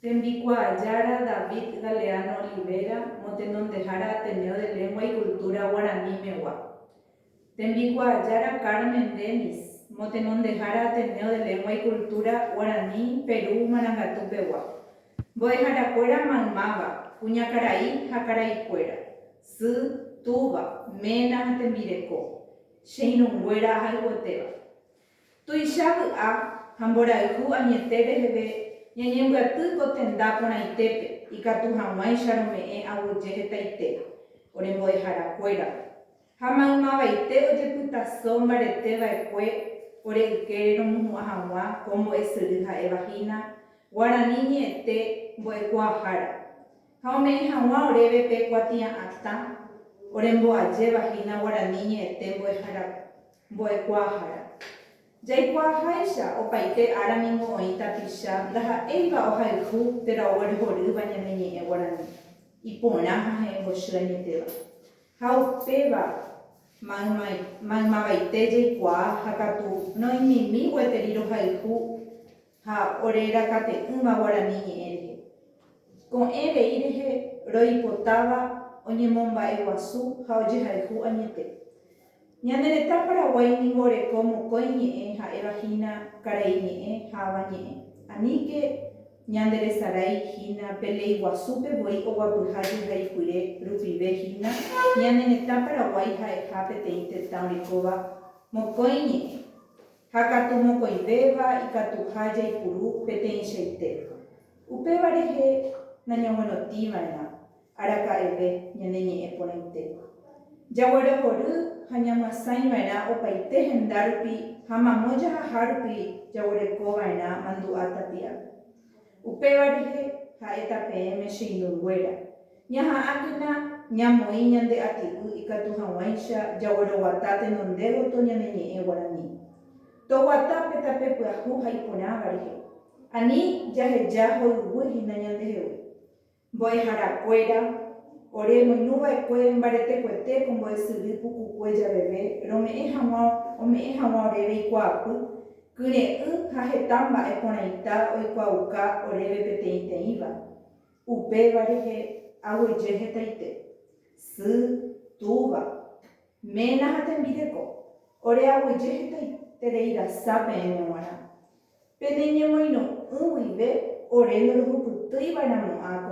Tembikuaa Jára David Galeano Olivera motenondehára Ateneo de Lengua y Cultura Guarani megua. Tembikuaa Jára Carmen Denis motenondehára Ateneo de Lengua y Cultura Guarani Peru Marangatu pegua. Mbo'eharakuéra maymáva, kuñakarai ha karaikuéra, sy, túva, ména ha tembireko. Che irũnguéra ahayhuetéva. Tuicha vy'a ha mborayhu añete reheve ñañembyaty ko tenda porãitépe ikatu hag̃uáicha rome'ẽ aguyje hetaite ore mbo'ehára kuérape, ha maymavaite ojepytaso mbarete vaekue ore ykére romohu'ã hag̃ua ko mbo'esyry ha'eva hína guarani ñe'ẽte mbo'ekuaahára, Ha ome'ẽ haguã oréve pe kuatia'ãta oremboajéva hína guarani ñe'ẽte mbo'ehára, mbo'ekuaahára. Jaikuaaháicha, opaite ára ningo oĩ tapicha ndaha'éiva ohayhu térã oguerhorýva ñane ñe'ẽ guarani, iporã ha he'ẽmbochy añetéva. Ha upéva mayma, maymavaite jaikuaa ha katu roĩmimi gueteri rohayhu ha ore rakate'ỹva guarani ñe'ẽ rehe. Ko'ẽ rei rehe roipotáva oñemomba'eguasu ha ojehayhu añete. Ñane retã Paraguái ningo oreko mokõi ñe'ẽ ha'éva hína karai ñe'ẽ ha avañe'ẽ. Aníke ñanderesarái hína pe lei guasúpe voi oguapyha jehayhuire rupive hína ñane retã Paraguái ha'eha peteĩ tetã orekóva mokõi ñe'ẽ. Ha katu mokõivéva ikatuha jaipuru peteĩchaite. Upéva rehe nañaguerotiva'erã araka'eve ñane ñe'ẽ porãite. Jaguerohory ha ñamyasãiva'erã opaite hendárupi ha mamo jahahárupi jaguerekova'erã mandu'a tapiápe. Upéva rehe, ha'éta peẽme che irũnguéra, Ñaha'ãkena ñamoĩ ñande ati'y ikatu hag̃uáicha jagueroguata tenondégoto ñane ñe'ẽ guarani. Toguata pe tape pyahu ha iporãva rehe, ani jaheja hoyguy hína ñandehegui. Mbo'eharakuéra, ore roinuva'ekue mbaretekuete ko mbo'esyry pukukue javeve rome'ẽ hag̃ua ome'ẽ hag̃ua oréve ikuaapy, kyre'ỹ ha heta mba'e porãita oikuaauka oréve peteĩteĩva. Upéva rehe aguyje hetaite, sy, túva, ména ha tembireko, ore aguyje hetaiterei rasa peẽme g̃uarã. Peneñemoirõ'ỹ guive ore norohupytýiva'erãmo'ã ko